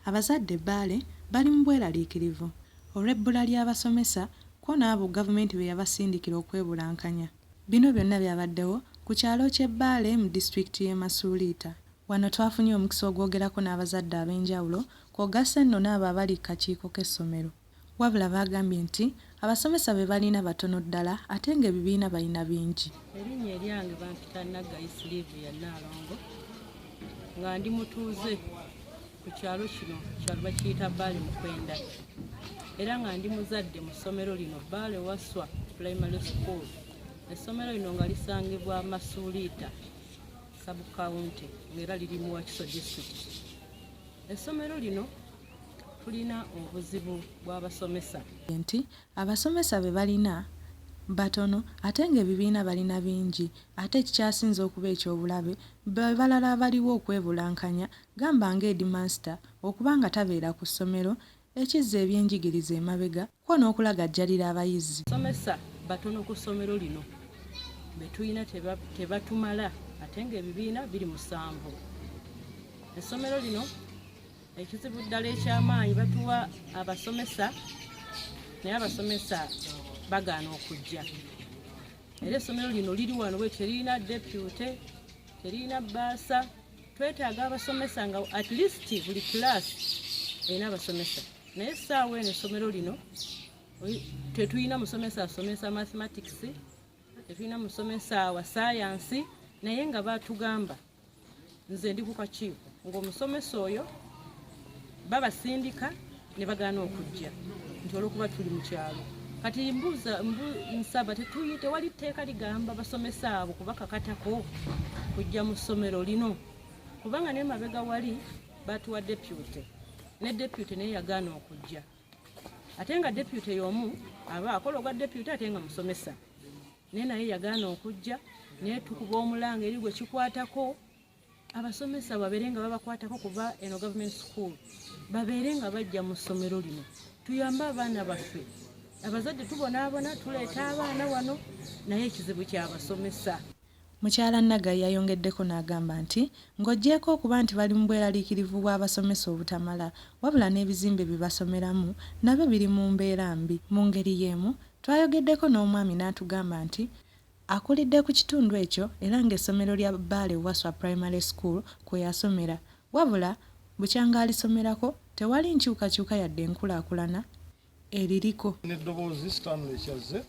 Abazadde Bbaale bali mu bweraliikirivu olw'ebbula ly'abasomesa kwo n'abo Gavumenti be yabasindikira okwebulankanya. Bino byonna byabaddewo ku kyalo ky'e Bbaale mu disitulikiti y'e Masuuliita. Wano twafunye omukisa ogwogerako n'abazadde ab'enjawulo kw'ogasse nno n'abo abali ku kakiiko k'essomero. Wabula baagambye nti, abasomesa be balina batono ddala ate ng'ebibiina balina bingi. Erinnya eryange bampita Naggayi Sylivia Nnaalongo nga ndi mutuuze ku kyalo kino kyalo bakiyita Bbaale Mukwenda era nga ndi muzadde mu ssomero lino Bbaale Wasswa Primary School. Essomero lino nga lisangibwa Masuuliita sub-county ng'era liri mu Wakiso disitulikiti. Essomero lino tulina obuzibu bw'abasomesa nti abasomesa be balina batono ate ng'ebibiina balina bingi ate ekikyasinze okuba eky'obulabe be balala abaliwo okwebulankanya gamba nga Headmaster okuba nga tabeera ku ssomero ekizza ebyenjigiriza emabega kwo n'okulagajjalira abayizi. Abasomesa batono ku ssomero lino, be tulina tebatumala ate ng'ebibiina biri musanvu. Essomero lino ekizibu ddala eky'amaanyi batuwa abasomesa naye abasomesa bagaana okujja era essomero lino liri wano bwe teririna depute teririna bbaasa twetaaga abasomesa nga at least buli class erina abasomesa naye saawa eno essomero lino tetulina musomesa asomesa mathematics tetulina musomesa wa sayansi naye nga batugamba nze ndi ku kakiiko ngaomusomesa oyo babasindika ne bagaana okujja nti olwokuba tuli mu kyalo kati mbuuza nsaba tetuyi tewali tteeka ligamba basomesa abo kubakakatako kujja mu ssomero lino kubanga naye mabega wali batuwa depute ne depute naye yagaana okujja ate nga depute yomu aba akola ogwa depute ate nga musomesa naye naye yagaana okujja naye tukuba omulanga eri gwe kikwatako abasomesa babeere nga babakwatako kuba eno government school babeere nga bajja mu ssomero lino tuyambe abaana baffe abazadde tubonaabona tuleeta abaana wano naye ekizibu kyabasomesa Mukyala Naga yayongeddeko n'agamba nti ng'oggyeeko okuba nti bali mu bweraliikirivu bw'abasomesa obutamala wabula n'ebizimbe bye basomeramu nabyo biri mu mbeera mbi. Mu ngeri y'emu twayogeddeko n'omwami n'atugamba nti Akulidde ku kitundu ekyo era ng'essomero lya Bbaale Waswa Primary School kwe yasomera wabula bukyanga alisomerako tewali nkyukakyuka yadde enkulaakulana eririko. N'eddoboozi Stanley Kyazze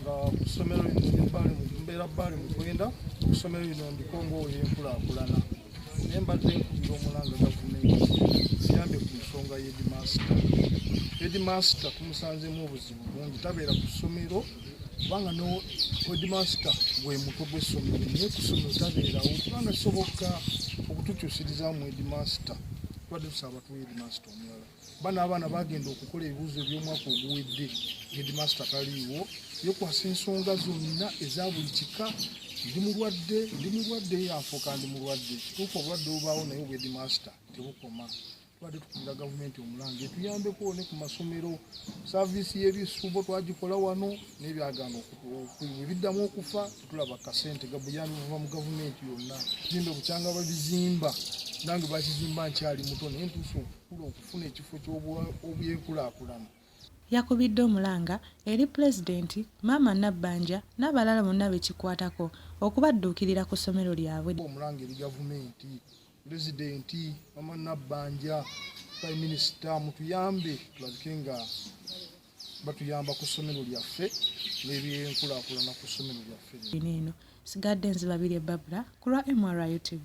nga ku ssomero lino ndi Bbaale mbeera Bbaale Mukwenda ku ssomero lino ndiko ng'owoyenkulaakulana naye mbadde nkubira omulanga gavumenti ziyambye ku nsonga y'edimaasita. Edimaasita tumusanzemu obuzibu bungi tabeera ku ssomero kubanga no wedimasita gwe mutwe gw'essomero naye ku ssomero tabeerawo kubanga kisoboka okutukyusirizamu wedimasita tubadde tusaba tuwa hedimasita omulala bana abaana bagenda okukola ebibuuzo eby'omwaka oguwedde hedimasita taliiwo yekwasa ensonga zonna eza buli kika ndi mulwadde ndi mulwadde yafuuka ndi mulwadde kituufu obulwadde obubaawo naye obwedimasita tebukoma tubadde tukulira gavumenti omulange tuyambeko ne ku masomero saviisi y'ebisuubo twagikola wano n'ebyagaana ebiddamu okufa tetulaba kasente gabuyambi buva mu gavumenti yonna zimbe bukyanga babizimba nange bakizimba nkyali muto naye ntuusa okukula okufuna ekifo ky'obyenkulakulana yakubidde omulanga eri pulezidenti maama nabbanja n'abalala bonna bekikwatako okubadduukirira ku ssomero lyabwe omulanga eri gavumenti pulezidenti mama nabbanja prime minisita mutuyambe tulabike nga batuyamba ku ssomero lyaffe n'ebyenkulakulana ku ssomero lyaffe eno sigadde nzibabire babula ku lwa mru tv